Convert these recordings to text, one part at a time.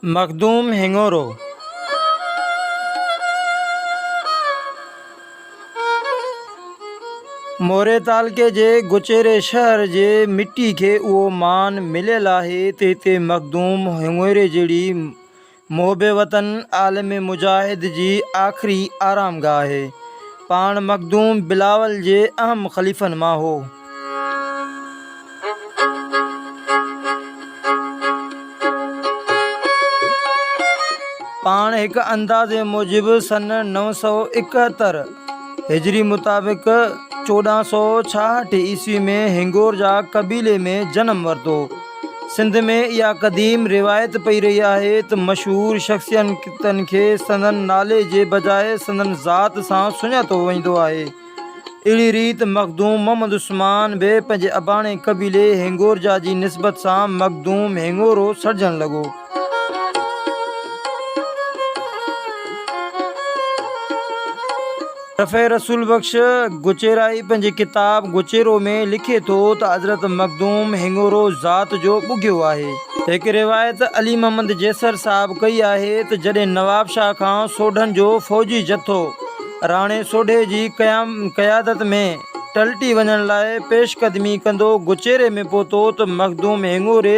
مخدوم هڱورو موري تعلقي جي گچيري شهر جي مٽي کي اهو مان مليل آهي ته هتي مخدوم هڱوري جهڙي محب وطن عالم مجاهد جي آخري آرام گاهه آهي. پاڻ مخدوم بلاول جي اهم خليفن مان هو. پاڻ هڪ اندازي موجب سن نو سؤ اڪهتر هجري مطابق چوڏهن سؤ ڇاهٺ عيسوي ۾ هنگور جا قبيلي ۾ جنم ورتو. سنڌ ۾ اها قديم روايت پئي رهي آهي ته مشهور شخصيتن کي سندن نالي جي بجاء سندن ذات سان سڃاتو ويندو آهي. اهڙي ريت مخدوم محمد عثمان به پنهنجي اباڻي قبيلي هينگورجا جي نسبت سان مخدوم هينگورو سڏجڻ لڳو. رفيع رسول بخش گچيرائي پنهنجي ڪتاب گچيرو ۾ لکي ٿو ته حضرت مخدوم هڱورو ذات جو ٻگهيو آهي. هڪ روايت علي محمد جيسر صاحب ڪئي آهي ته جڏهن نوابشاهه کان سوڍن جو فوجي جٿو راڻي سوڍي جي قيادت ۾ ٽلٽي وڃڻ لاء پيش قدمي ڪندو گچيري ۾ پهتو ته مخدوم هڱوري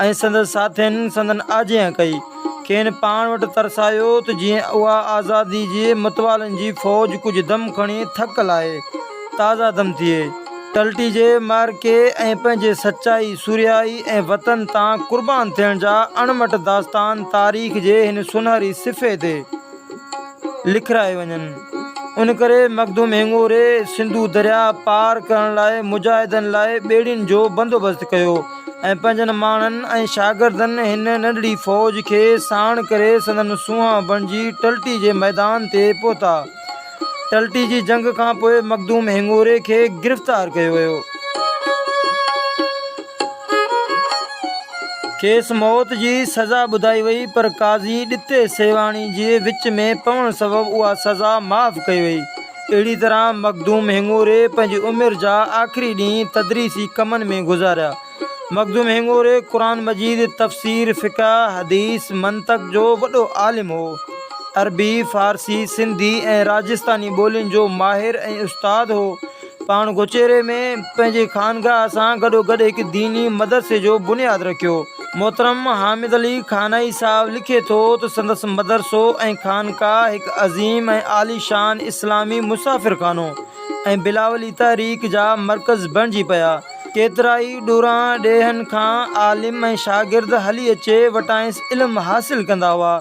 ۽ سندس ساٿين سندن آجيان ڪئي. کين پاڻ وٽ ترسايو ته جيئن اها آزادي جي متوالن جي فوج ڪجهه دم کڻي ٿڪ لاهي، تازه دم ٿئي، ٽلٽجي، معرڪي ۽ پنهنجي سچائي، سرهائي ۽ وطن تان قربان ٿيڻ جا اڻ مٽ داستان تاريخ جي هن سونهري صفحي تي. لکرائي وڃن. ان ڪري مخدوم هينگوري سنڌو درياء پار ڪرڻ لاء مجاهدن لاء ٻيڙين جو بندوبست ڪيو ۽ پنهنجن ماڻهن ۽ شاگردن هن ننڍڙي فوج کي ساڻ ڪري سندن سونهان بڻجي ٽلٽي جي ميدان تي پهتا. ٽلٽي جي جنگ کان پوء مخدوم هڱوري کي گرفتار ڪيو ويو. کيس موت جي سزا ٻڌائي وئي پر قاضي ڏتي سيوهاڻي جي وچ ۾ پوڻ سبب اها سزا معاف ڪئي وئي. اهڙي طرح مخدوم هڱوري پنهنجي عمر جا آخري ڏينهن تدريسي ڪمن ۾ گذاريا. مخدوم هڱوري قرآن مجيد، تفسير، فقه، حديث، منطق جو وڏو عالم هو. عربي، فارسي، سنڌي ۽ راجستاني ٻولين جو ماهر ۽ استاد هو. پاڻ گوچيري ۾ پنهنجي خانگاهه سان گڏوگڏ هڪ ديني مدرسي جو بنياد رکيو. محترم حامد علي خانائي صاحب لکي ٿو ته سندس مدرسو ۽ خانقاهه هڪ عظيم ۽ عاليشان اسلامي مسافرخانو ۽ بلاولي تحريڪ جا مرڪز بڻجي پيا. ڪيترائي ڏوران ڏيهن کان عالم ۽ شاگرد هلي اچي وٽانئس علم حاصل ڪندا هئا.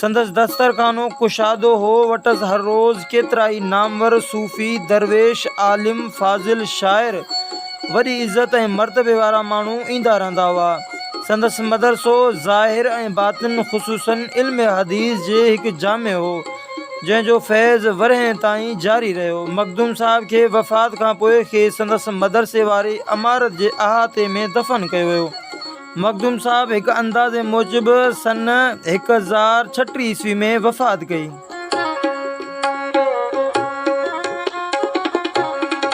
سندس دسترخانو ڪشادو هو. وٽس هر روز ڪيترائي نامور صوفي، درويش، عالم، فاضل، شاعر، وڏي عزت ۽ مرتبي وارا ماڻهو ايندا رهندا هئا. سندس مدرسو ظاهر ۽ باطن خصوصاً علم حديث جي هڪ جامع هو. جنهن جو فيض ورهين تائين جاري رهيو. مخدوم صاحب کي وفات کان پوء کيس سندس مدرسي واري عمارت جي احاطي ۾ دفن ڪيو ويو. مخدوم صاحب هڪ اندازي موجب سن هڪ هزار ڇٽيهه عيسوي ۾ وفات ڪئي.